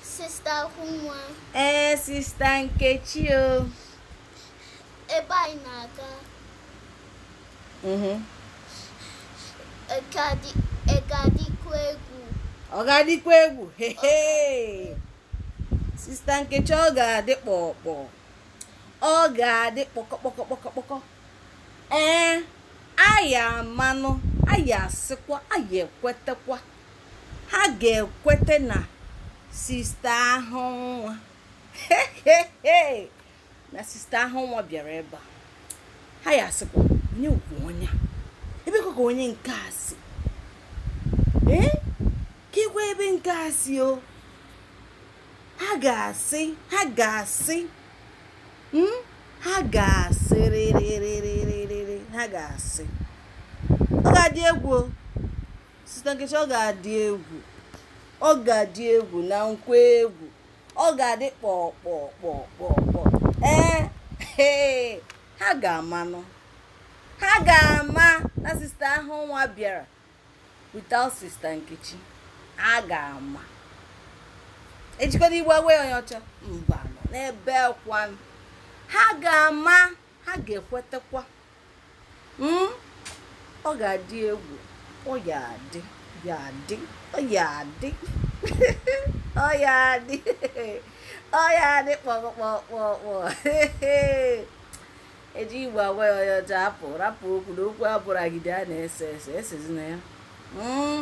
Sista Ahụnwa. Ee, Sista Nkechi o. Ebe anyị na-aga. Mm-hmm. Ọ ga-adịkwa egwu. Ọ ga-adịkwa egwu. Sista Nkechi ọ ga-adị kpọkpọ. Ọ ga-adị kpọkọkpọkọkpọkọ. Ee, ha ya amanụ, ha ya asịkwa, ha ya ekwetekwa. ha ga-ekweta na sista ahụnwa na sista ahụnwa bịara ebe a ha ya asịkwa onye ukwu onye ebe ka onye nke a si ee kekwa ebe nke a si o ha ga-asị ha ga-asị hmm? ha ga-asị rịrịrịrịrịrị ha ga-asị ọ ga-adị egwu o sista nkechi ọ ga-adị egwu ọ ga-adị egwu na nkwa egwu ọ ga-adị kpọkpọkpọkpọkpọ ee ee ha ga-amanụ ha ga-ama na sista ahụnwa bịara without sista nkechi ha ga-ama ejikọta igbo agwa onye ọcha mba n'ebee kwanụ ha ga-ama ha ga-ekwetekwa hmm? ọ ga-adị egwu ọ ya adị ya adị ọ ya adị ọ ya adị ọ ya adị kpọkpọkpọkpọ eji igbo agwa ya onye ọcha hapụ rapụ okwu na okwu abụragide a na-ese ese esezina ya hmm?